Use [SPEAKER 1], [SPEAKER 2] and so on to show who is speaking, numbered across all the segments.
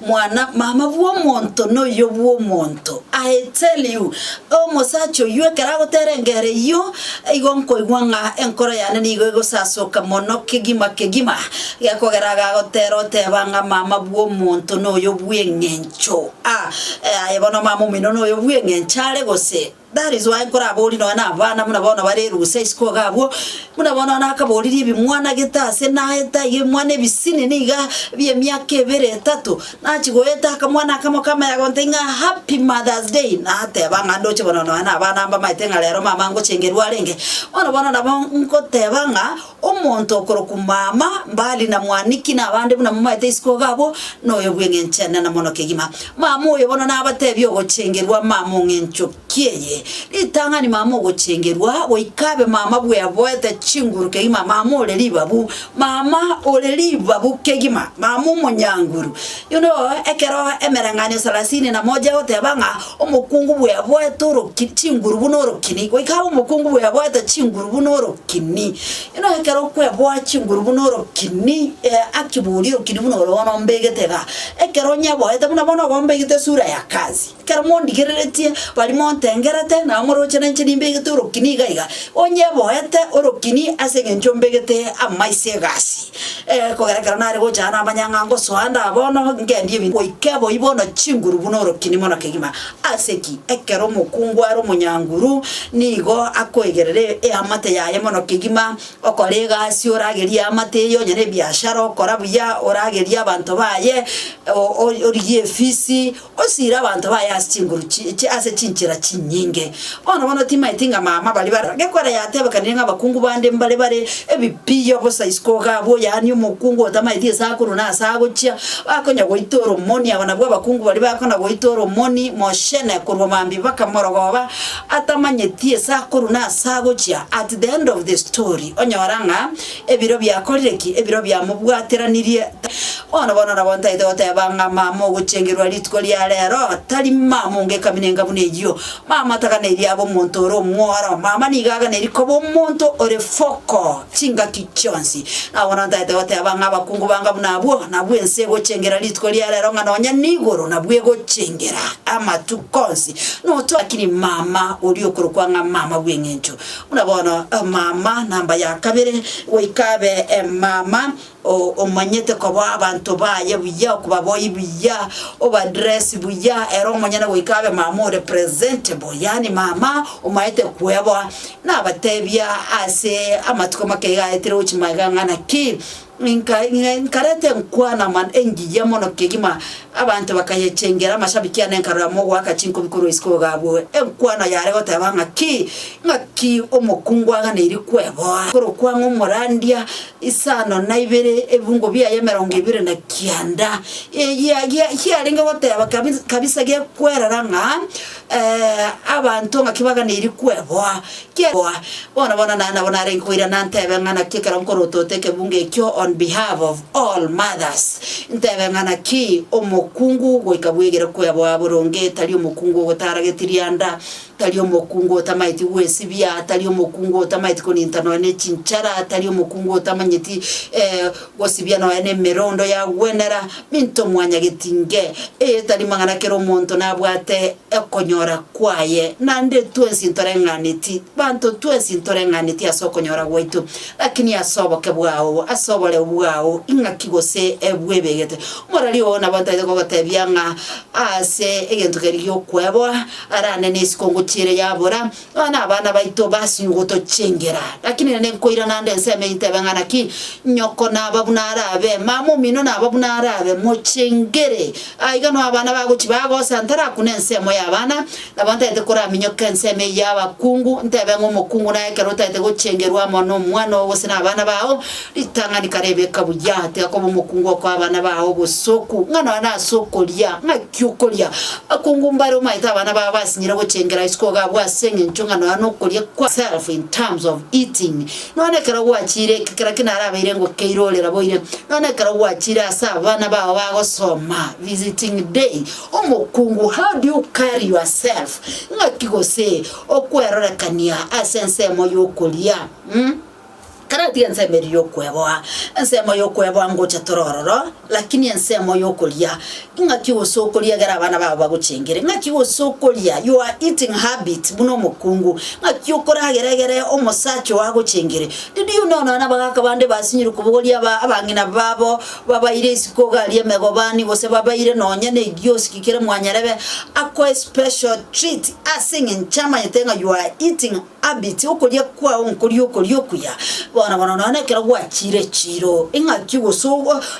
[SPEAKER 1] Mwana mama bw'omonto noyio bw'omonto. I tell you, omosacha oyio ekero agotera engero eyio, igo nkoigwa ng'a enkoro yane nigo egosasoka mono kegima kegima, gekogera iga agotera oteba ng'a mama bw'omonto noyio bw'eng'encho. Ah, aye bono mama omino noyio bw'eng'encho are gose? That is why nkoraborie nonya nabana buna bono bare erusa isiko iga abwo, buna bono one akaboririe ebimwanagete ase naeta iga ebimwana ebisine niga bi'emiaka ebere etato, nachi goeta akamwana akamo kamanya gontebi ng'a happy mother's day, nateba ng'a ndoche bono nonya nabana mbamaete ng'a rero mama ngochengerwa arenge, bono bono nabo ngoteba ng'a. Omonto okorokwa mama, mbali na mwaniki nabande buna momaete isiko iga abwo noyo bw'eng'enchene na mono kegima. Mama oyo bono nabateebie ogochengerwa mama ong'encho ki'eye ritang'ani mama ogochengerwa goika abe mama bweboete chinguru kegima mama ore ribabu mama ore ribabu kegima mama omonyanguru Inwe oo, ekero emereng'anio salasini na mocha egoteba ng'a omokungu bweboete orokini chinguru buna orokini, goika abe omokungu bweboete chinguru buna orokini. Inwe ekero kweboa chinguru buna orokini, ee aki bori orokini buna ore bono ombegete igaa, ekero onyeboete buna bono oba ombegete esura ya kazi. Ekero mondigereretie baria montengerete, nabo moroche nainche nimbegete orokini iga iga, onye boete orokini ase eng'encho mbegete amaiso egasi, kogera ekero nare gocha aa namanyang'a ngosoa nda bono ngendie ebinto goika eboyio bono chinguru buna orokini mono kegima. Ase ki? Ekero omokungu are omonyanguru, nigo akoegerera e- eamate yaye mono kegima, okora egasi oragerie eamate eyio onye na ebiashara okora buya, oragerie abanto baye, o- o- origie efisi. Osiire abanto baye ase chinguru chiye ase chinchera chinyinge. Bono bono timaeti ng'a mama baria bare gekwera yatebekanire ng'a abakungu bande mbare bare ebipiyo bosa isiko iga abwo, yaani omokungu otamaeti gese akorwa na ase agochia, bakonya goita oromoni, aba nabwo abakungu baria bakona goita oromoni mochene korwa mambia bakamorogoba atamanyeti ase akorwa na ase agochia. At the end of the story onyora ng'a. Ebiro biakorire ki? Ebiro biamobwateranirie. Bono bono nabo ntaete goteba ng'a mama ogochengerwa rituko ria rero tari mama onga ekaminenga buna eyio. Mama taganeirie abe omonto ore omworo. Mama nigo aganeirie koba omonto ore foko chingaki chionsi. Na bono ntaete goteba ng'a abakungu banga buna abwo, nabwo ense egochengera rituko ria rero ng'a nonya nigoro nabwo egochengera amatuko onsi. Noto, lakini mama oria okorokwa ng'a mama bw'eng'encho Buna bono omama namba ya kabere goika abe omama omanyete koboa abanto baye buya, okobaboi buya, obadress buya, ere omonyene goika abe mama ore presentable, yaani mama omaete kweboa. Nabatebia ase amatuko make iga aetire gochia magega ng'a naki Inka, inka, nkareta enkwana amano engiya mono kegima, abanto bakayechengera, amashabiki ane nkarora mogoaka chinkubi korwa isiko gabue, enkwana yare goteba ng'aki, ng'aki omokungu aganeirie kweboa, korokwa ng'a omorandia, isano na ibere, ebibungo biaye emerongo ebere na kianda, e gia gia giarenge goteba kabi kabisa gekwerora ng'a abanto ng'aki baganeirie kweboa, Kegoa. Bono bono na nabo narenge koirana ntebe ng'a naki ekero nkorotote ekebungo ekio on behalf of all mothers, ntebe ng'a naki omokungu goika bwegere kweboa boronge, tari omokungu ogotara getirianda, tari omokungu otamaeti gwesibia, tari omokungu otamaeti konintanwa ne chinchara, tari omokungu otamanyeti Gosibia nonya nemerondo yagwenera minto mwanya getinge, eyetari magana kera omonto nabwate okonyora kwaye. Naende twensi ntoreng'aneti, banto twensi ntoreng'aneti ase okonyora gwaito, lakini ase oboke bwao, ase oboreu bwao, ing'aki gose bwebegete. Omorari oo nabo ntaete kogotebia ng'a ase egento keria giokweboa, arande nesiko ngochiere yabora, Aba nabana baito basinyugoto chingera, lakini rende nkoira naende ensemo eye intebe ng'a naki nyoko naba buna arabe, mama omino naba buna arabe, mochengere. Aiga no abana bagochi bagosa ntarakune ensemo y'abana, nabo ntaete koraminyoke ensemo eyio y'abakungu, ntebe ng'a omokungu naye ekero otaete gochengerwa amo nomwana oo gose nabana bao, ritang'ani kare ebeka buya, tiga koba omokungu okoa abana bao obosoku, ng'a nonya nase okoria, ng'a ki'okoria, akongumbare omaete abana babo basinyire gochengera isiko iga abwo ase engencho ng'a nonya nokoria kwa self in terms of eating nonya nekero gwachiire ekekera ki narabeire ngokeire ore raboire nonya nekero gwachiire ase abana bao bagosoma visiting day omokungu how do you carry yourself ng'aki gose okwerorekania ase ensemo yokoria mm. Karati ensemo eria y'okweboa, ensemo y'okweboa ngocha tore ororo, lakini ensemo y'okoria, ing'aki gose okoria egere abana babo bagochengere, ing'aki gose okoria, your eating habit, buna omokungu, ing'aki okoragera egere omosacha oo agochengere. Did you know nonya abagaka bande basinyirwe kobogoria aba abang'ina babo, babaire isiko gari emegobani, gose babaire nonya ne egioski kere mwanyarebe akoe special treat, aseng'encho amanyete ng'a your eating Habit, Okoria kwao nkoria okoria okuya bono bono nonya ekero gwachiire echiiro. Ing'aki gose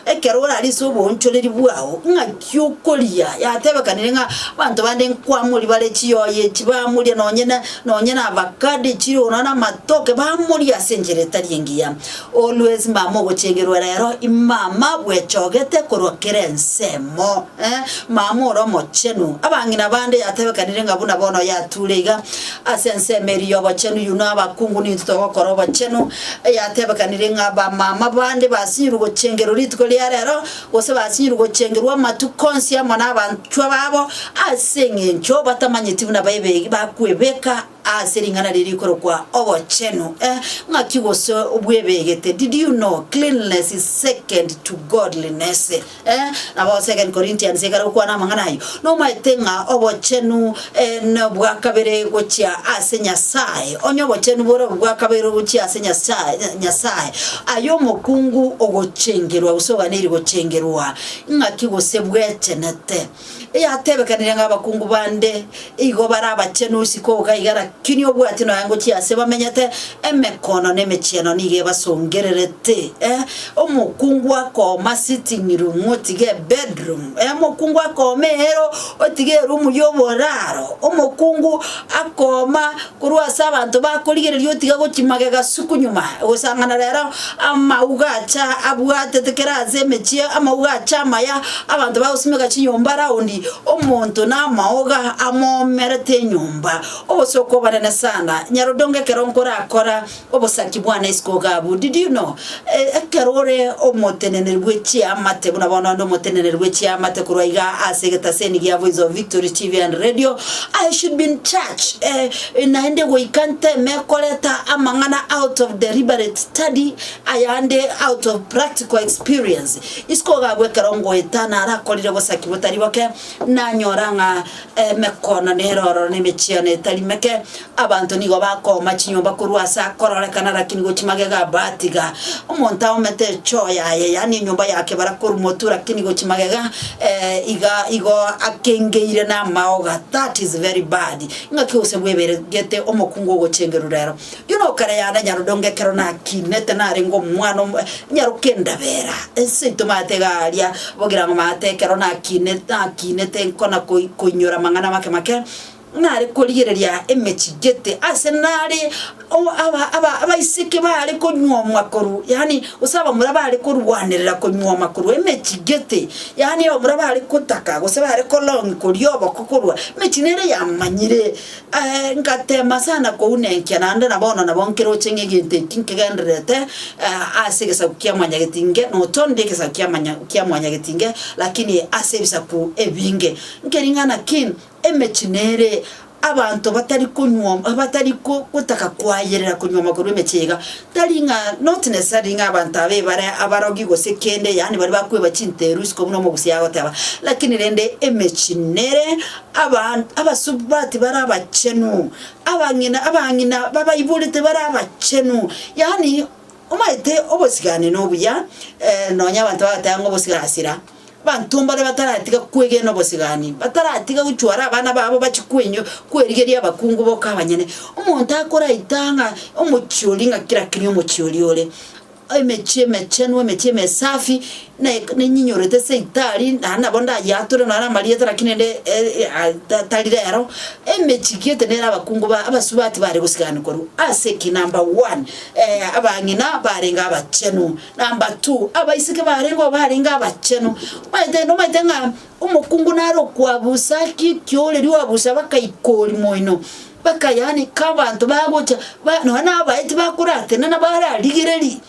[SPEAKER 1] ekero orare ase oboonchoreri bwao, ing'aki okoria? Yatebekanire ng'a abanto bande nkwamori bare chiyoyo echi bamoria nonye na nonye na avacado echiro nonya na amatoke bamoria ase enchera etari engiya. Always mama ogochengerwa rero imama bwechogete korwa kera ensemo. Ee, mama ore omochenu. Abang'ina bande yatebekanire ng'a buna bono yature iga, ase ensemo eria y'obochenu yuno abakungu nintwe togokora obochenu. Yatebekanire ng'a abamama bande basinyirwe gochengerwa rituko ria rero, gose basinyirwe gochengerwa amatuko onsi amo nabanchwa babo, ase eng'encho batamanyeti buna baebegi bakwebeka Ase ring'ana riria rikorokwa obochenu, eh, ng'aki gose bwebegete, did you know cleanliness is second to godliness? eh, nabo Second Corinthians ekare gokwana amang'ana ayio, nomaete ng'a obochenu, eh, nobwa kabere gochia ase Nyasaye, onye obochenu bore obo bwa kabere ogochia ase Nyasaye, eh, Nyasaye, aye omokungu ogochengerwa gose oganeiri gochengerwa, ng'aki gose bwechenete. Eyatebekanire ng'a abakungu bande igo bare abachenu isiko oka iga rakini obwati nonya ngochia ase bamenyete emekono na emechieno nigo ebasongererete eh, omokungu akooma sitting room otige bedroom eh, omokungu akooma eero otige erumu y'oboraro, omokungu akooma Korwa ase abanto bakorigereria otiga gochia magega suku nyuma, gosang'ana rero amauga acha abwatete kera ase emechie, amauga acha amaya, abanto bagosimeka chinyomba roundi, omonto namaoga amoomerete enyomba, obosooku obonene sana. Nyarodogo ekero nkorakora Obosachi bwane isiko gabu, did you know? Ekero ore omoteneneri bwe chiamate, buna bono onde omoteneneri bwe chiamate korwa iga ase egetaseni gia Voice of Victory TV and Radio, I should be in church, eh, naende goika nteme koreta amang'ana out of deliberate study, ayande out of practical experience. Isiko gabu ekero ngoeta narakorire bosaki botari boke, nanyora ng'a emekono nere ororo na emechiano etari meke, Abanto nigo bakooma chinyomba korwa ase akororekana rakini gochia magega abwo atiga. Omonto aomete echoo yaye, yaani enyomba ya kebara korwa motwe rakini gochia magega, eeh, iga igo akengeire namaoga, that is very bad. Ing'aki gose bweberegete omokungu ogochengeru rero. Rirorio nokare yane nyarodongo ekero nakinete narenge omwana omo nyaroka endabera, eseito maate iga aria bogirango maate ekero nakinete nakinete nkona koi koinyora amang'ana make make, nare korigereria emechie gete, ase nare o- aba- aba- abaiseke baare konyuomwa korwa, yaani gose abamura baare korwanerera konyuoma korwa emechie gete, yaani abamura baare gotaka gose baare kolong koria oboko korwa emechie nere yamanyire. ngatema sana kouna enkia naende na bono nabo nkeroche ng'a egento eki nkegendererete ase egesaku kia mwanyagetinge, notondi egesaku kia manya kia mwanyagetinge, lakini ase ebisaku ebinge. Nkering'ana ki Emechie nere abanto batari konyuoma, batari gotaka koayerera konyuoma korwa emechie iga, tari ng'a not necessarily ng'a abanto aba ebare abarogi gose kende, yaani baria bakweba chinteru isiko buna omogusia agoteba, lakini rende emechie nere aban abasubati bare abachenu, abang'ina abang'ina babaiborete bare abachenu, yaani omaete obosigani nobuya, nonya abanto bagoteba ng'a obosigasira. Abanto mbare bataratiga kwegena obosigani, bataratiga gochwara abana babo bachie kwenywa, kwerigeria abakungu boka abanyene. Omonto akoraita ng'a omochiori ng'a kera keria omochiori ore, emechie emechenu, emechie emesafi, ne- nenyiyorete ase itaari, na nabo ndayeature nonye na amarieta lakini ende e- e- a- ta- tari rero, emechie gete nere abakungu ba abasubati bare gosiganwa korwa ase ki? Number one, abang'ina barenge abachenu. Number two, abaiseke baria nigo barenge abachenu. Omanyete nomanyete ng'a omokungu nare okwabusa ki ekioreria oabusa bakaikori moino, baka yaani ka abanto bagocha ba nonya na abaeti bakoratenena bararigereri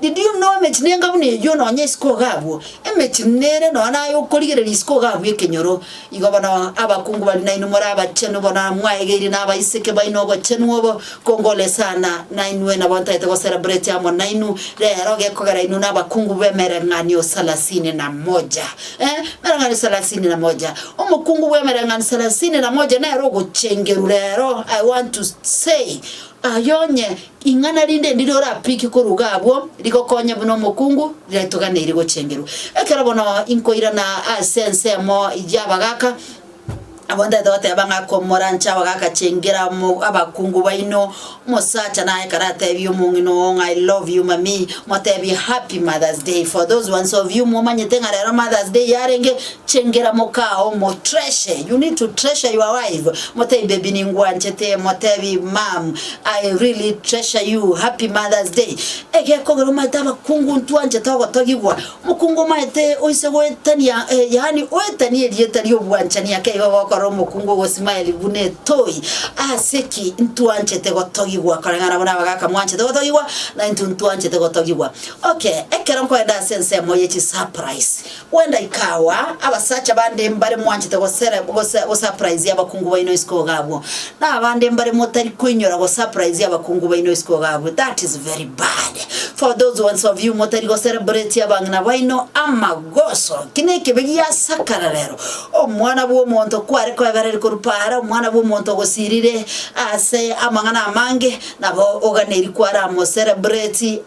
[SPEAKER 1] did you know emechie nenga buna eyio nonya isiko iga abwo, emechie nere nonya naye okorigereria isiko iga abwo ekenyoro. Igo bono abakungu baria nainwe more abachenu, bono mwaegeirie nabaiseke baino obochenu obo, kongolesana nainwe, nabo ntaete gocelebrate amo nainwe rero, gekogera inwe nabakungu b'emereng'anio salasini na moja. Eh, emereng'anio salasini na moja. Omokungu bw'emereng'anio salasini na moja nere ogochengeru rero, I want to say, aye onye Ing'ana rinde ndiria orapike koruga abwo rigokonye buna omokungu riratoganeire gochengerwa. Ekero bono inkoirana ase ensemo y'abagaaka, abwo ntaete goteba ng'a komoranche abagaaka chengera mo abakungu baino, omosacha naye ekero atebie omong'ina oo ng'a I love you mammy, motebie happy mother's day. For those ones of you momanyete ng'a rero mother's day yarenge, Chengera mokao omotreasure, you need to treasure your wife, motebie baby ningwanchete, motebie mom I really treasure you, happy mother's day. Egeka ogere omaete abakungu ntwanchete ogotogigwa, omokungu omaete oise goetania eh, yaani oetanie erieta ri'obwanchani ake igo ogokora omokungu ogosmile buna etoy, ase ki? Ntwanchete gotogigwa koreng'ana buna abagaka mwanchete gotogigwa, naintwe ntwanchete gotogigwa. Okay, ekero nkoenda ase ensemo ye chisaprise, Kwenda ikawa, abasacha bande mbare mwanchete gosurprise abakungu baino isiko iga abwo, na abande mbare motari koinyora gosurprise abakungu baino isiko iga abwo, that is very bad. For those ones of you motari gocelebrate abang'ina baino amagoso, ki nekebe giasakara rero, Omwana bw'omonto kware koebereria korwa paara, Omwana bw'omonto ogosirire ase amang'ana amange, Nabo oganeiri kwaramoserebureti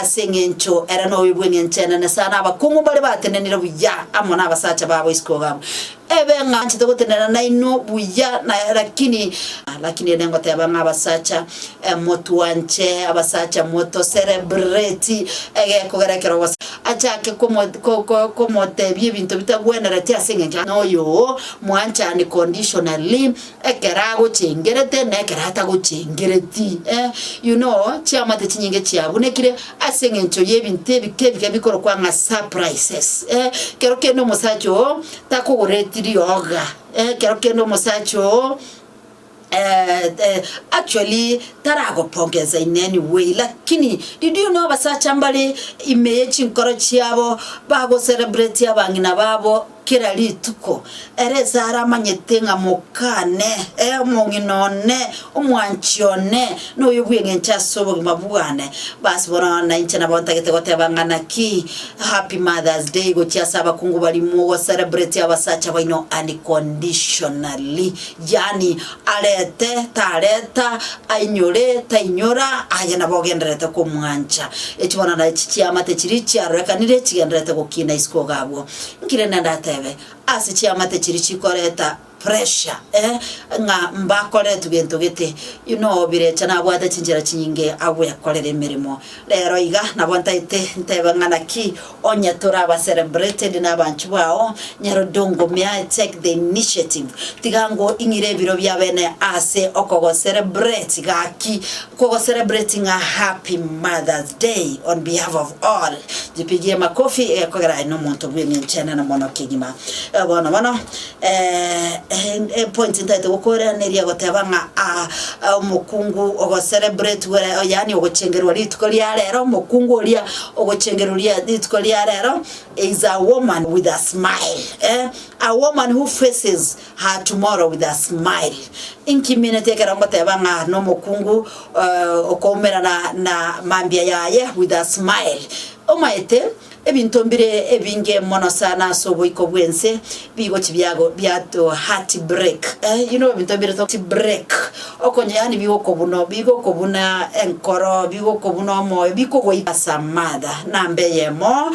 [SPEAKER 1] ase engencho ere noyo bw'engencho enene sana, abakong'u mbare batenenire buya amo nabasacha babo isiko gabo. Ebe ng'a anchete gotenena nainwe buya na lakini, lakini ere ngoteba ng'a abasacha, motwanche abasacha motoserebureti egekogera ekero gose achake komotebia ebinto bitagwenereti ase engencho noyo oo, mwanchani conditionally. ekero agochengerete na ekero atagochengereti, eh, you know, chiamate chinyinge chiabunekire ase eng'encho y'ebinto ebike ebike bikorokwa ng'a surprises, eh, ekero kende omosacha oo takogoreti rioga, eh, ekero kende omosacha oo actually taragopongensa in any way lakini did you know abasacha mbare ime ye chinkoro chiabo bagocelebratia abang'ina babo. Kera rituko, ere Sara amanyete ng'a mokane, ee, omong'ina one, omwanchi one, noyo bw'engencho ase obogima bwane. Bas, bono na inche nabo ntagete goteba ng'a naki Happy Mother's Day gochia ase abakungu barimo go celebrate abasacha baino unconditionally. Yaani, arete, tareta, ainyore, tainyora, aye nabo ogendererete komwancha. Echi bono nachi chiamate chiria chiarorekanire chigendererete gokina isiko iga abwo. Nkire ne ndatebe, ase chiamate chiria chikoreta pressure eh, ng'a mbakoretwe gento gete, inwe obirecha nabwate chinchera chinyinge agwekorera emeremo. Rero iga nabo ntaete ntebe ng'a naki onye toraba celebrated nabanchu bao, nyarodongomia take the initiative. Tiga ngo ing'ire ebiro biabene ase okogocelebrate gaki, Kogo celebrating a happy mother's day on behalf of all jipigie makofi egekogera aye nomonto bw'engencho enene mono kegima eh, bono bono eh, eh, eh, point ntaete gokoiraneria goteba ng'a ah, ah, omokungu ogocelebrate were oh, yaani ogochengerwa rituko ria rero omokungu oria ogochengerwa ria rituko ria rero is a woman with a smile eh? a woman who faces Her tomorrow with a smile Inki mineti ekero ngoteba ng'a nomokungu okoumerana na mambia yaye with a smile Omaete ebinto mbire ebinge mono sana ase oboiko bw'ense bigochi biago biato heart break you know ebinto mbire to break okonye yaani bigokobuno bigokobuna enkoro bigokobuna omoyo bikogoika as a mother namba eyemo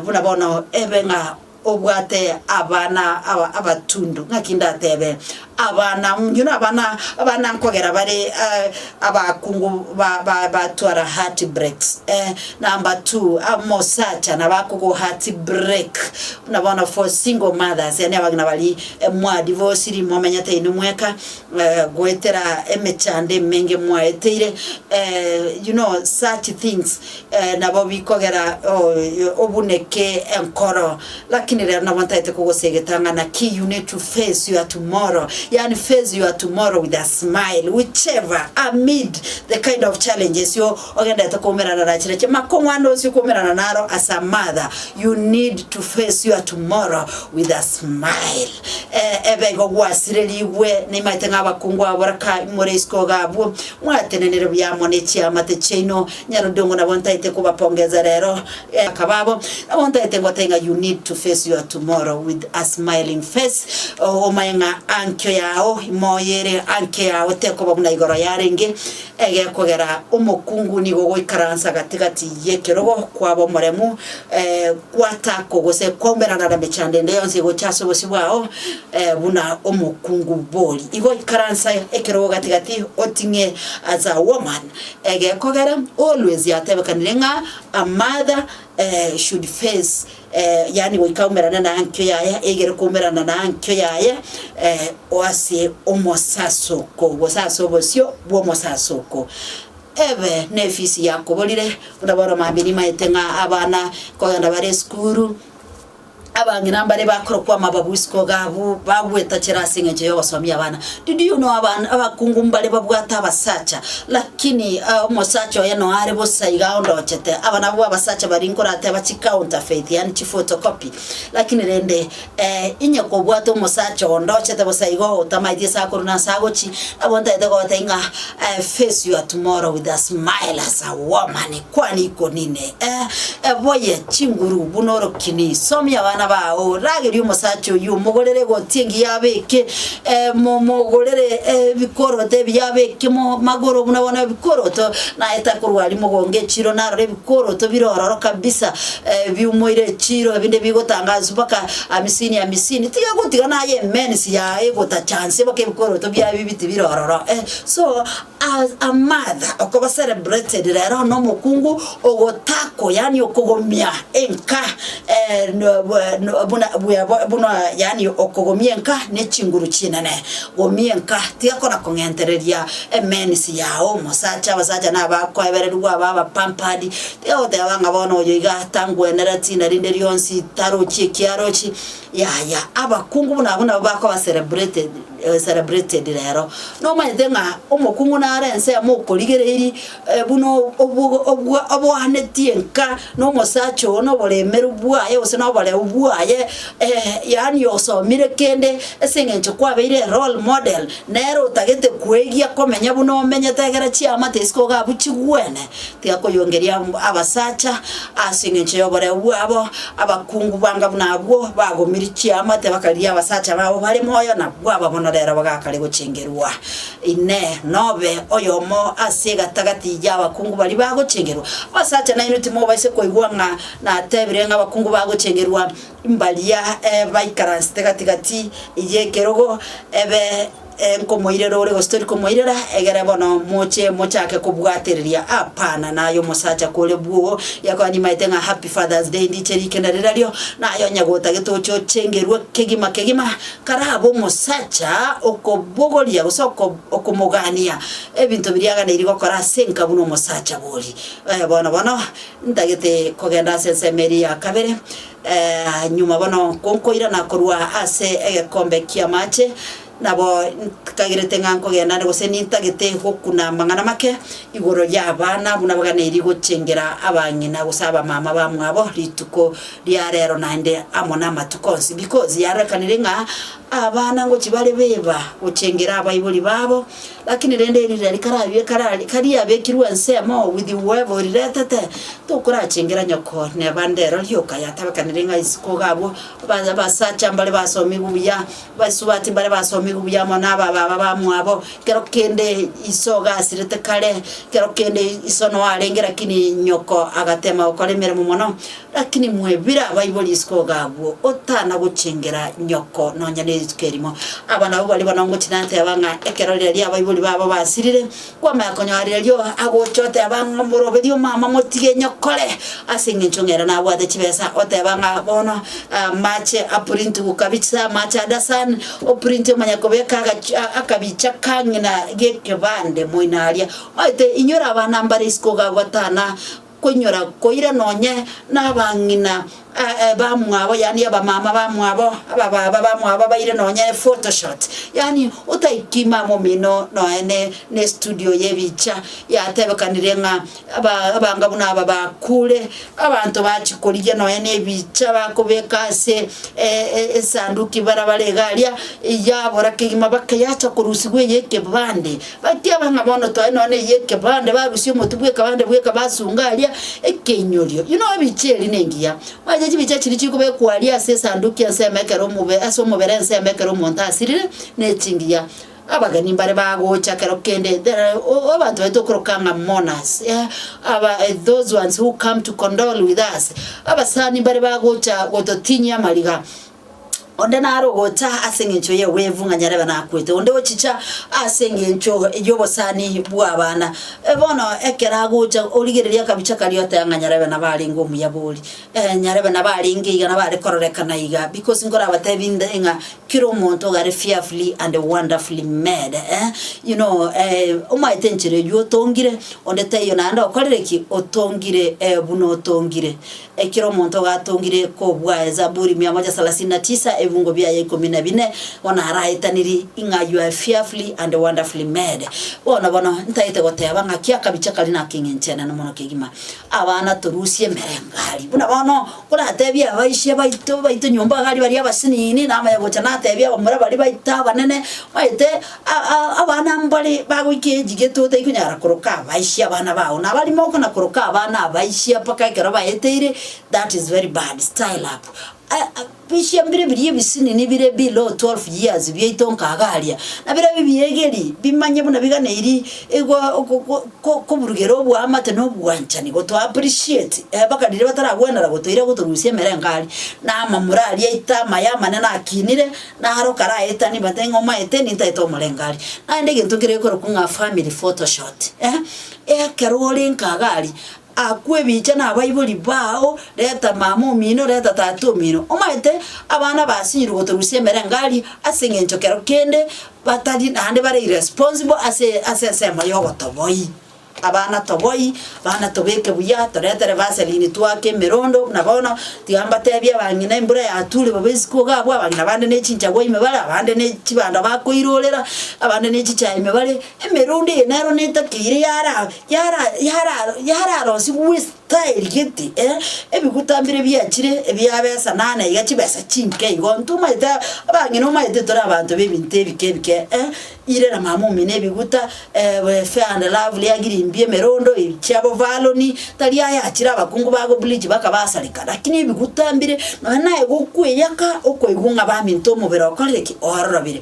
[SPEAKER 1] buna bono ebe ng'a Obwate abana aba abatundu, ng'aki ndatebe, Abana, you know, abana, abana nkogera bare eh, abakungu ba, ba, batwara heart breaks, eh, number two, omosacha nabo akogoa heart break, buna bono for single mothers, yani abagina bari eh, mwadi bosi rimo omenyete inwe mweka, eh, goetera emechando emenge mwaeteire, eh, you know, such things, Nabo bikogera obuneke enkoro, lakini rero nabo ntaete kogosegeta ng'a naki you need to face your tomorrow, yaani face your tomorrow with a smile whichever amid the kind of challenges you ogenderete koumerana na chire chimakong'wana onsi okoumerana naro as a mother you need to face your tomorrow with a smile ebe igo gwasirerigwe naimaete ng'a abakungu abo boraka imore isiko iga abwo mwatenenire buya amo nechiamate chiaino. Nyarudongo nabo ntaete kobapongeza rero akaba abo nabo ntaete ngote ng'a you need to face your tomorrow with a smiling face omaye ng'a ankio yao imoyo ere ankio yao tekoba buna igoro yarenge egekogera omokungu nigo ogoikaransa gati gati y'ekerogo kwaba omoremu gwatako gose kwaumerana nemechando ende yonsi egocha ase obosio bwao buna omokungu bori igo ikaransa ekerogo gati gati oting'e as a woman. Egekogera always yatebekanire ng'a a mother should face yaani goika aumerane na ankio yaye eigere koumerana na ankio yaye ase omosasoko gose ase obosio bw'omosasoko. Ebe nefisi yakoborire buna bono mambia nimaete ng'a abana kogenda bare esukuru. Abang'ina mbare bakorokwa amababu isiko gabu, bagwetachera ase engencho y'ogosomia abana. Did you know aban- abakungu mbare babwate abasacha, lakini ah, omosacha oye noe are bosa iga ondochete. Aba nabwo abasacha baria nkorateba chicounterfeit, yaani chiphotocopy. Lakini rende eh, inye kobwate omosacha ondochete bosa igo otamaeti ase akorwa na ase agochia, nabo ntaete gogotebi ng'a eh, face your tomorrow with a smile as a woman Kwana ikonine, eh, eboye chinguru buna orokini, somia abana bao, rageria omosacha oyio, omogorere egoti engiya abeke, eh, mo- mogorere eh, ebikoroto ebiya abeke mo magoro buna bono ebikoroto, naye takorwa aria mogonge echiro narore ebikoroto bire ororo kabisa, eh, biumoire echiro ebinde bigotanga ase baka amisini amisini, tiga gotiga naye emensi yaye egotachanse baka ebikoroto biaye bibiti bire ororo, eh, so. As a mother okoba celebrated rero nomokungu ogotako yaani okogomia enka buna yaani okogomia enka nechinguru chinene gomia enka tigakora kong'entereria emenisi yao omosacha abasacha nabakoebererigwa aba aba pampered tigagoteba ng'a bono oyo iga tangwenereti narinde rionsi tarochi ekiarochi yaya abakungu buna abwo nabo bakoba celebrated. celebrated rero. Nomanyete ng'a omokung'u nare ensemo okorigereiri buna obwo oboanetie nka nomosacha oo noboremeru bwaye gose noboreu bwaye, yaani osomire kende ase eng'encho kwabeire erole model, nere otagete kwegia komenya buna omenyete egera chiamate isiko iga abwo chigwene. tigakoyongeria abasacha ase engencho y'oboreu bwabo, abakungu banga buna abwo bagomirie chiamate bakarigia abasacha babo bare moyo na bwaba bono rero bagakare gochengerwa. Inee! Nobe oyomo ase egatagati y'abakungu baria bagochengerwa? Abasacha nainwe timobaisa koigwa ng'a natebire ng'a abakungu bagochengerwa mbaria baikaransete gati gati y'ekerogo ebe Nkomoirera ore gose tori komoirera, egere bono moche mochake kobwatereria apana naye omosacha kore bwoo. Yakoa nimaete ng'a happy father's day ndiche rikenda rirario naye onye gotagete oche ochengerwe kegima kegima karabe omosacha okobogoria gose oko okomogania ebinto biria aganeirie gokora ase enka buna omosacha bori. Bono bono ntagete kogenda ase ensemo eria ya kabere Nyuma bono nkoirana korwa ase egekombe ki'amache, nabo ntikagerete ng'a nkogenda ande gose nintagete gokuna amang'ana make igoro y'abana buna baganeirie gochengera abang'ina gose abamama bamwabo rituko ria reero naende amo namatuko onsi. Because yarorekanire ng'a abana ngochia bare beba gochengera abaibori babo, Lakini rende erira rikarabie karari, karia abekirwe ensemo, with the web, oriretete, tokorachengera nyoko ne bande ero rioka yatabekanire ng'a isiko gabwo, ba- abasacha mbare basomigwe buya, baisubati mbare basomigwe buya amo naba baba bamwabo, kero kende iso gasirete kare, kero kende iso noarenge lakini nyoko agatema gokora emeremo mono. Lakini mwebire abaibori isiko iga abwo, otana gochengera nyoko nonya nerituko erimo. Aba nabwo baria bono ngochia nateba ng'a ekero riaria abaibori babo basirire, kwamanya konyora riario agocha oteba ng'a omoroberie omama motige nyokore ase engencho ng'a ere nabwate chibesa, oteba ng'a bono amache aprintigwe kabiche ase amache ande ase ane, oprinte omanya kobeka agachi akabicha ka ng'ina gekebande moino aria. Omanyete inwe ore abana mbare isiko iga abwo otana koinyora koira nonye nabang'ina bamwabo, yaani abamama bamwabo, abababa bamwabo baire nonye ephotoshoot, yaani otaiki mama omino noene nestudio y'ebicha yatebekanire ng'a aba abanga buna aba bakure, abanto bachia korigia nonye nebicha bakobeka ase esanduki barabare iga aria, yabora kegima baka yacha korusigwa eye ekebande. Bateeba ng'a bono tore nonya na eyio ekebande, barusia omotwe bw'ekebande bweka basunga aria ekeinyorio. Inwe noebicha eri nengiya, mwacha chibicha chiria chikobekwa aria ase esanduki ensemo ekero omobe ase omobere ensemo ekero omonto asirire ne chingiya. Abageni mbare bagocha ekero kende there are o- o abanto baito okoroka ng'a mourners aba those ones who come to condole with us, abasani mbare bagocha gototinyia amariga. Onde nare ogocha ase engencho y'egwevu ng'a nyarebe nakwete, onde ochicha ase engencho y'obosani bw'abana. Bono ekero agocha origereria akabicha karia oteba ng'a nyarebe nabo arenge omuyabori, eh nyarebe nabo arenge iga nabo are kororekana iga, bikosi nkorabatebi inde ng'a kera omonto iga are fearfully and wonderfully made eh, you know omaete enchera eywo otongire, onde taiyo naende okorire ki, otongire buna otongire. Ekero omonto gatongire kobua Ezaburi mia moja salasini na tisa ebungo biaye ikomi na bine, bono araetaniri ing'a you are fearfully and wonderfully made. Bono bono ntaete goteba ng'a ki akabicha kari na akeng'encho enene mono kegima. Abana torusie emerengo aria. Buna bono koratebie abaisia baito baito nyomba iga aria baria abasinini, namaye gocha natebie abamura baria baito abanene, maete. Abana mbare bagoika eegi gete otaikonyara koroka abaisia abana bao na abarimo okona koroka abana abaisia mpaka ekero baeteire that is very bad style up bisia mbire biria ebisinini bire below 12 years biaito nkaga aria na bire bibiegeri bimanye buna biganeiri igo ko ko ko koburugera oboamate na obwanchani goto appreciate mpaka riria bataragwenera gotoira gotorusia emerengo aria na amamura aria aito amaye amanene akinire. Naro karaetanie bate ng'a omaete nintaete omorengari. Naende egento keria gekorokwa ng'a family photoshot eh, ekero ore nkagari, akwo ebicha na abaibori bao, reta mama omino, reta tata omino. Omaete abana basinyire gotorusia emerengari ase eng'encho kero kende batari naende bare irresponsible ase ase ensemo ya obotoboyi. Abana toboi, abana tobeke buya, toretere vaseline twake emerondo, buna bono tiga mbatebie abang'ina embura yatuure babe isiko iga abwo, abang'ina bande ne chinchagwa ime bare, abande ne chibando bakoirorera, abande ne chichae ime bare, emerondo eye nero netakeire yara yara yara yararosigwe ase. Taerigeti, ee, ebiguta mbire biachire ebia besa, na na iga chibesa chinke igo. Ntomaete a, abang'ina omaete tore abanto b'ebinto ebike ebike, ee, ire na mama omino ebiguta, eeh fair and lovely agirimbia emerondo eye chia b'Ovaloni, tari aya achire abakungu ba gobleach bakabasareka, lakini ebiguta mbire, nonya naye gokweyaka, okoigwa ng'a baminto omobere okorire ki? Ororobire.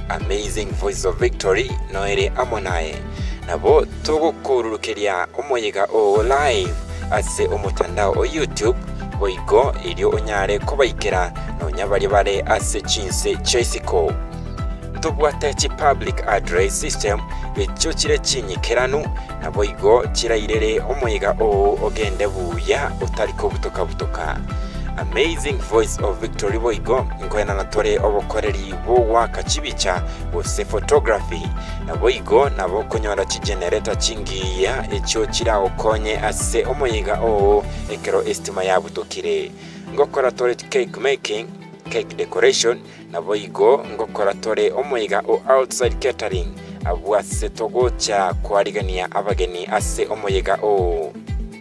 [SPEAKER 2] Amazing Voices of Victory noere amo naye. Nabo togokoururukeria omoyega oo live ase omotandao o YouTube, boigo erio onyare kobaikera nonya baria bare ase chinse chia isiko. Tobwate chi public address system echio chire chinyikeranu, naboigo chirairere omoyega oo ogende buya otari kobutoka-butoka. Amazing Voices of Victory boigo nkoenana tore obokoreri bw'ogoaka chibicha, gose photography. Naboigo nabo okonyora chigenerator chingiya echio chiragokonye ase omoyega oo ekero esitima yabutokire. Ngokora tore cake making, cake decoration, naboigo ngokora tore omoyega o outside catering abwo ase togocha koarigania abageni ase omoyega oo.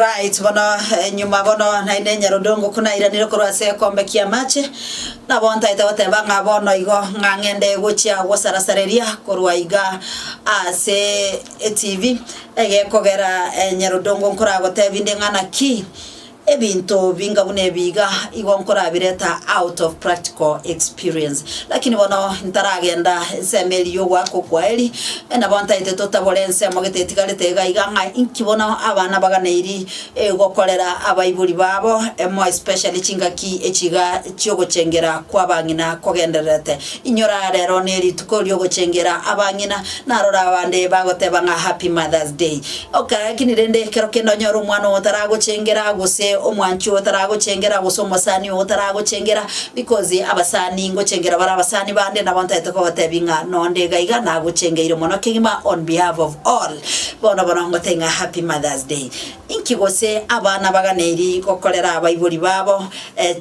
[SPEAKER 1] Right, bono eh, nyuma bono naende nyarodongo kunairanire korwa ase ekombe ki'amache nabo ntaete goteba ng'a bono igo ng'a ng'ende gochia gosarasareria korwa iga ase etv egekogera eh, nyarodongo nkoragotebi nde ng'a naki Ebinto binga buna ebi iga igo nkorabireta out of practical experience. Lakini bono ntaragenda ensemo eria y'ogoaka okw'aeri, nabo ntaete totabore ensemo gete etigarete iga iga ng'a inki bono abana baganeiri gokorera abaibori babo, more especially chingaki echi iga chi'ogochengera kw'abang'ina kogendererete. Inyora rero nerituko riogochengera abang'ina, narora abande bagoteba ng'a Happy Mother's Day. Okay, lakini rende ekero kende onyore omwana oyo otaragochengera, gose omwanchi oyo otaragochengera, gose omosani oyo otaragochengera, because abasani ngochengera bare abasani bande, nabo ntaete kobatebia ng'a nonde iga iga nagochengeire mono kegima on behalf of all. Bono bono ngotebia ng'a Happy Mother's Day. Inki gose abana baganeri gokorera abaibori babo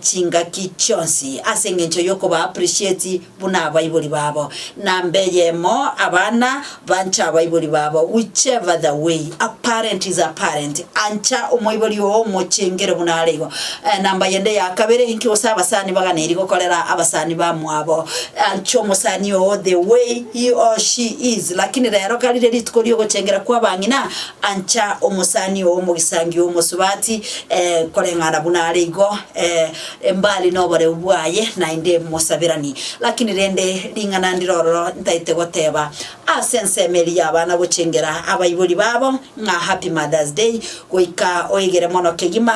[SPEAKER 1] chingaki chionsi ase engencho y'okoba appreciate buna abaibori babo? Namba eyemo, abana banche abaibori babo whichever the way. A parent is a parent. Ancha omoibori oo omochengere buna are igo. Namba yende ya kabere, inki gose abasani baganeri gokorera abasani bamwabo? Ancha omosani oo the way he or she is. Lakini rero kariria rituko ri'ogochengera kw'abang'ina, Ancha omosani oo omogisangio omosubati, ee, koreng'ana buna are igo, ee, mbali noboreu bwaye, naende mosabirani. Lakini rende ring'ana ndire ororo ntaete goteba, ase ensemo eria y'abana gochengera abaibori babo, ng'a Happy Mother's Day, goika oegere mono kegima,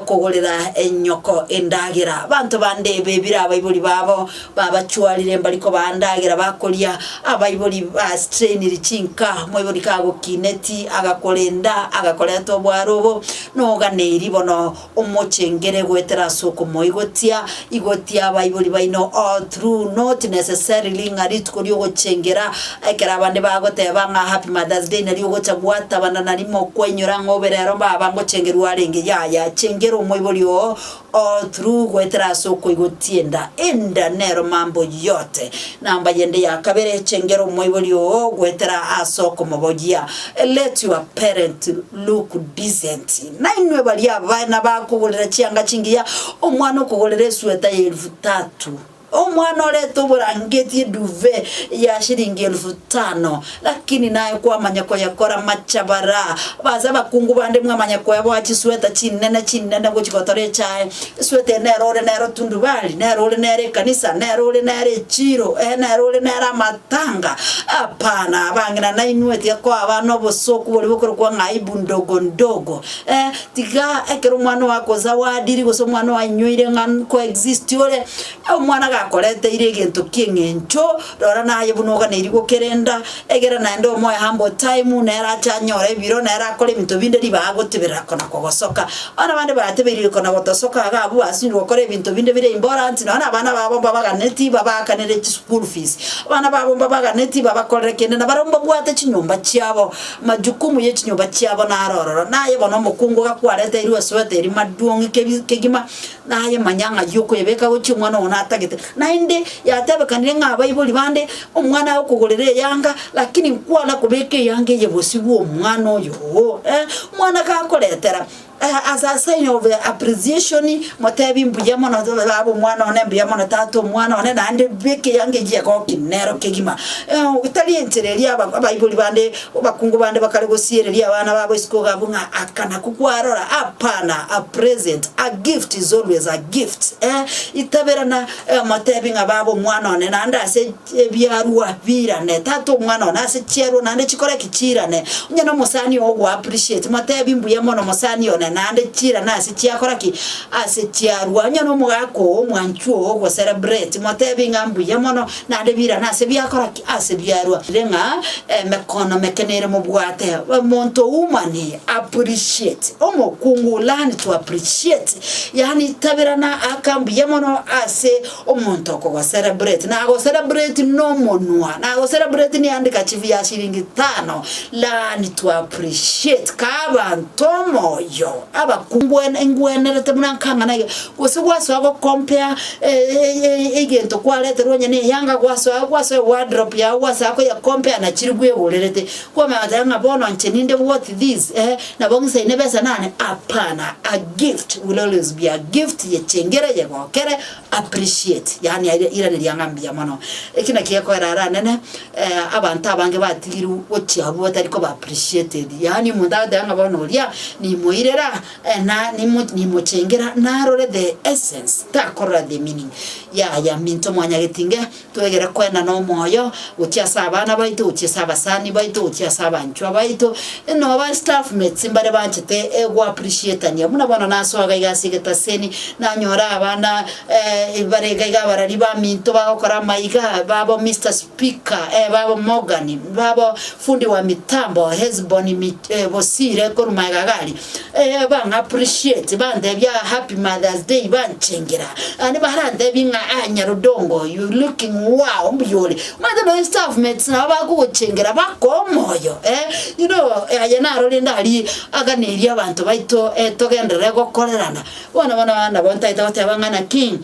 [SPEAKER 1] kogorera enyoko endagera. Abanto bande bebire abaibori babo, babachwarire mbari kobaa ndagera bakoria, abaibori bastrainiri chinka, moibori kagokineti, agakorenda, agakoreta obware obo, noganeiri bono omochengere goetera as'okomoigotia, Igotia abaibori baino all through not necessarily ng'a rituko riogochengera, ekero abande bagoteba ng'a happy mother's day nario ogocha gwatabana narimo kwainyora ng'a obe rero baba ngochengerwa arenge yaya chengera omoibori oo all through goetera ase okoigotia enda enda nero mambo yote. Namba yende ya kabere chengera omoibori oo goetera ase okomobogia let your parent look decent. Nainwe baria abana bakogorera chianga chingiya, omwana okogorera esweta y'elufu tatu, omwana orete oborangeti eduve ya shilingi elufu tano, lakini naye kwamanya koyekora machabara. Base abakungu bande mwamanya koeboa chisweta chinene chinene gochia gotora echae. Esweta eye nero ore nero tundubari, nero ore nero ekanisa, nero ore nero echiiro, ee, nero ore nero ama. Tanga, Hapana, abang'ina nainwe tiakwaba nobosoku boria bokorokwa ng'a aibu ndogo ndogo. Eh, tiga ekero omwana ogo akoe zawadiri gose omwana oainyoire ng'a nkoexist ore, omwana gakoreteire egento ki'eng'encho, rora naye buna oganeiri gokerenda, egera naende omoe humble time, nere ache anyore ebiro, nere akore ebinto binde ribaga gotiberera kona kogosoka. Abana bande baratebeiriri konagotosoka iga abwo basiri gokora ebinto binde bire imborant nonya nabana babo mbabaganeti babaakanere chischool fees, abana babo mbabaganeti babakorere kende nabare mbabwate chinyomba chiabo, amajukumu ye chinyomba chiabo naro ororo. Naye bono omokungu iga kwareteirwe esweater maduong' kegima. Naye manya ng'a y'okwebeka gochia omwana oo natagete, naende yatebekanire ng'a abaibori bande omwana aye okogorera eyanga, lakini nkwana kobeka eyanga eye bosio bw'omwana oyo oo. Omwana gakoretera as a sign of appreciation motebi mbuya mono baba omwana one mbuya mono tata omwana one naende beka eyanga eyio egokina nero kegima, tari enchera eria aba abaibori bande. Abakungu bande bakare gosiereria abana babo isiko gabo ng'a aka nako kwarora, apana, a present, a gift is always a gift, eh, itaberana eh, omotebi ng'a baba omwana one naende ase ebiarwa biirane, tata omwana one ase chiarwa naende chikore ki? Chiirane. Onye nomosani oo ogo appreciate, motebi mbuya mono mosani one naende chiirane ase chiakora ki? Ase chiarwa. Onye nomogaka oo, omwanchwa oo ogo celebrate, motebi ng'a mbuya mono, Naende birane ase biakora ki? Ase biarua ire ng'a emekono meke nere mobwate omonto oumani appreciate. Omokungu learn to appreciate, yaani tabirana aka mbuya mono ase omonto okogocelebrate. Nagocelebrati nomonwa, nagocelebrati niandika chifu ya shilingi tano, learn to appreciate. Kaa abanto omoyo, abakungu ngwenerete buna nkang'ana iga. Gose gwasoa gokompea egento kwareterwe onye neyanga gwasoa gwasoa ewardrobe yago gwasaya koyekompea na chirigu egorerete, kwamanya goteba ng'a bono inche ninde worth this eeh, nabo ng'isaine ebesa nane apana, a gift will always be a gift yechengera eyegokere appreciate yaani aira iraneria ng'a mbuya mono. Eki naki gekorera ara nene abanto abange batigirwe gochia abwo batari koba appreciated, yaani omonto agoteba ng'a bono oria nimoirera. Ena nimochengera narore the essence, takorora the meaning, yaya minto mwanyagetinge twegere kwenda nomoyo gochia ase abana baito, gochia ase abasani baito, gochia ase abanchwa baito, nonya ba staff mates mbare banchete go appreciatania buna bono nasoa iga iga ase egetaseni nanyore abana bare iga iga abarari ba minto bagokora amaiga, babo Mister Speaker, babo Morgan, babo fundi wa mitambo Hesbon Bosire korwa magega iga aria. Eh, bang'appreciate, bantebia ah, happy Mother's Day, banchengera. Ande barantebia ng'a ah, nyarudongo oyo, you looking wow, mbuya ore. Omanyete nonya staff mates nabo bakogochengera bakoa omoyo, eh. You know, eh, aye naro rende aria aganeria abanto baito eh, togenderere gokorerana. Bono bono nabo ntaete goteba ng'a naki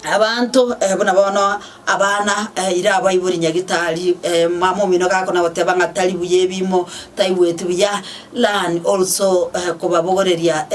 [SPEAKER 1] Abanto buna bono abana ira abaibori nyagitari, mama omino gakona goteba ng'a tari buya ebiimo, taigweti buya, learn also kobabogoreria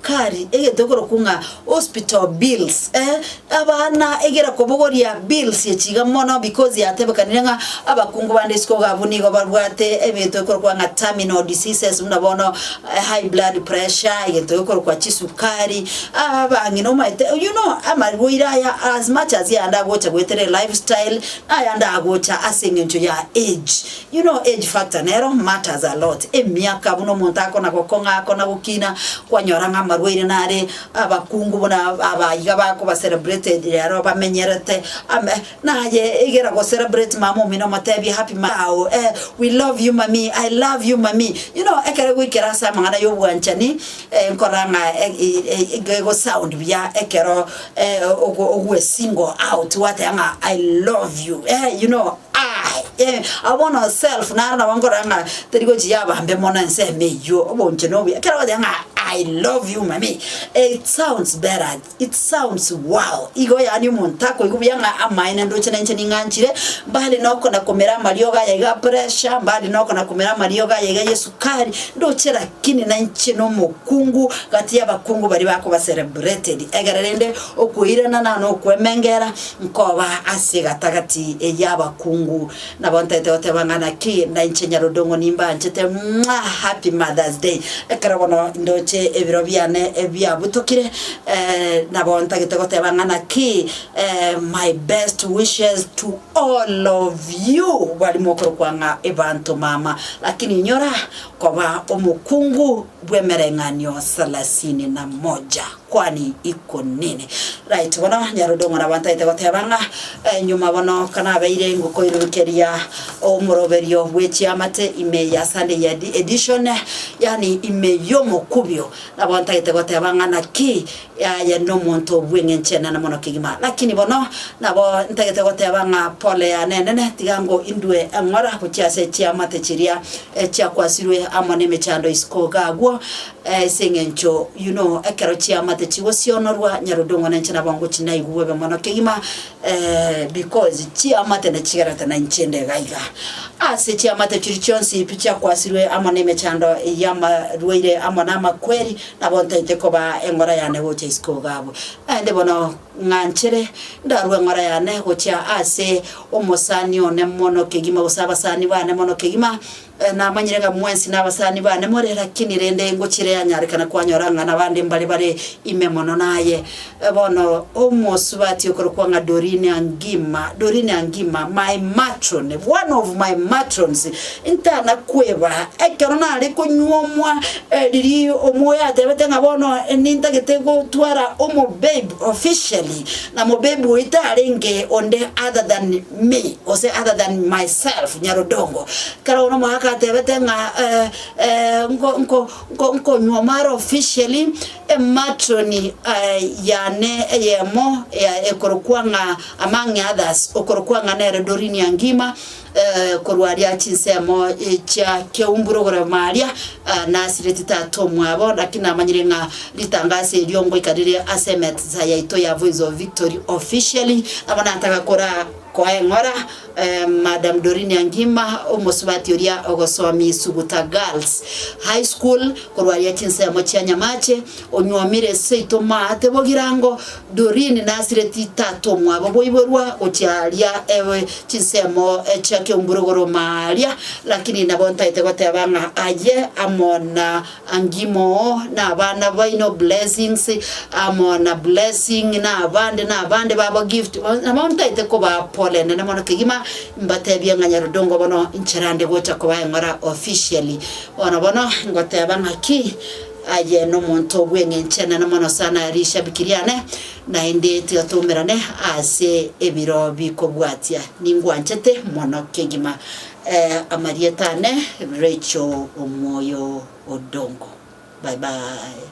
[SPEAKER 1] kari egento ekorokwa ng'a hospital bills eh, abana egera kobogoria bills echi iga mono because yatebekanire ng'a abakungu bande isiko iga abwo nigo babwate ebinto ebikorokwa ng'a terminal diseases buna bono high blood pressure, egento gekorokwa chisukari. Aa bang'ina nomaete you know amarwaire aya as much as yaya ndagocha goetera e life style naya ndagocha ase eng'encho ya age you know age factor nero matters a lot emiaka buna omonto akona gokong'a akona gokina kwanyora ng'a amarwaire nare abakungu buna aba iga bakoba celebrated rero bamenyerete ame naye igera go celebrate mama omino omotebie happy ma ao eh we love you mammy I love you mammy you know ekero egoikera ase amang'ana ya obwanchani. Nkora ng'a gegosound buya ekero ogwe single out gwateba ng'a I love you eeh you know aah eeh awo bono self naro nabo nkorora ng'a teri gochi yaba mbe mono ensemo eyio oboonchene obuya ekero ogoteba ng'a I love you mami it sounds better. It sounds wow! Igo yaani omonto akoigwa buya ng'a amaene ndoche na inche ning'anchire, mbare noko na komera amariogo aya iga a pressure, mbare noko na komera amariogo aya iga y'esukari, ndoche lakini na inche nomokungu gati y'abakungu baria bakoba celebrated. Egere rende okoirana nane okwemengera, nkoba ase egatagati y'abakungu. Nabo ntaete goteba ng'a naki nainche Nyarodong'o nimbaanchete mwaa happy mother's day ekero bono ndoche ebiro biane biabutokire nabo ntagete goteba ng'a naki my best wishes to all of you bari mokorokwa ng'a ebanto mama lakini inyora koba omokungu bw'emereng'anio salasini na moja. Kwani iko nini? Right, bono Nyarodo ng'ora abantaete goteba ng'a eh, nyuma bono kanabeire ngokoirurukeria omoroberio bwe chiamate ime ya Sunday ya edi- edition, yani ime y'omokubio, nabo ntagete goteba ng'a naki aye nomonto bw'eng'encho enene mono kegima. Lakini bono nabo ntagete goteba ng'a pole yane enene tiga ngo indue eng'ora gochia ase chiamate chiria eh, chiakwasirwe amo nemechando isiko iga agwo, Ase engencho y'uno ekero chiamate chigosionorwa, Nyarodong'o na inche nabo ngochi naigwe bobe mono kegima, because chiamate nachigerete na inche inde iga iga. Ase chiamate chiria chionsi pi chiakwasirwe amo nemechando y'amarwaire amo namakweri, nabo ntaete koba eng'ora yane gocha isiko iga abwo. Naende bono ng'anchere ndarue eng'ora yane gochia ase omosani one mono kegima, gose abasani bane mono kegima, Ee, namanyire ng'a mwensi nabasani bane more, lakini rende ingochire yanyarekana kwanyora ng'a nabande mbare bare ime mono naye. Bono omosubati okorokwa ng'a Dorine Angima, Dorine Angima, my matron, one of my matrons, ntana kweba, ekero nare konyuomwa eh, riria omoyo atebete ng'a bono nintagete gotwara omobabe officially, na mobabe oyio tarenge onde other than me, gose other than myself, Nyarodongo, kera one omogaka atebete ng'a nko nko nko nkonywa omara officially ematoni yane eyemo ya ekorokwa ng'a among others okorokwa ng'a nere Dorinia Ngima korwa aria chinsemo chia Keumbu rogoro maria, Nasireti tata omwabo, naki namanyire ng'a ritangaso erio ngoika rire ase emetsa yaito ya Voice of Victory officially. Nabo nataka kora koa eng'ora Madam Dorinia Ngima, omosubati oria ogosomia Suguta Girls High School, korwa aria chinsemo chia Nyamache, onyuomire seito maate bogirango, Doreen nasireti tata omwabo boiborwa gochia aria ewe chinsemo chia kiomburuguruma aria, lakini nabo ntaete goteba ng'a aye amo na Angie moo na abana baino Blessings amo na Blessing na abande na abande babo Gift nabo ntaete kobaa pole enene mono kegima mbatebie ng'a Nyarudongo bono incherande gocha kobaa eng'ora officially bono bono ngoteba ng'aki Aye nomonto bw'engenchana na mono sana rishabiki riane, naende tigatoomerane ase ebiro bikobwatia. Ningwanchete mono kegima amarieta ane Rachel Omoyo Odongo. Bye bye.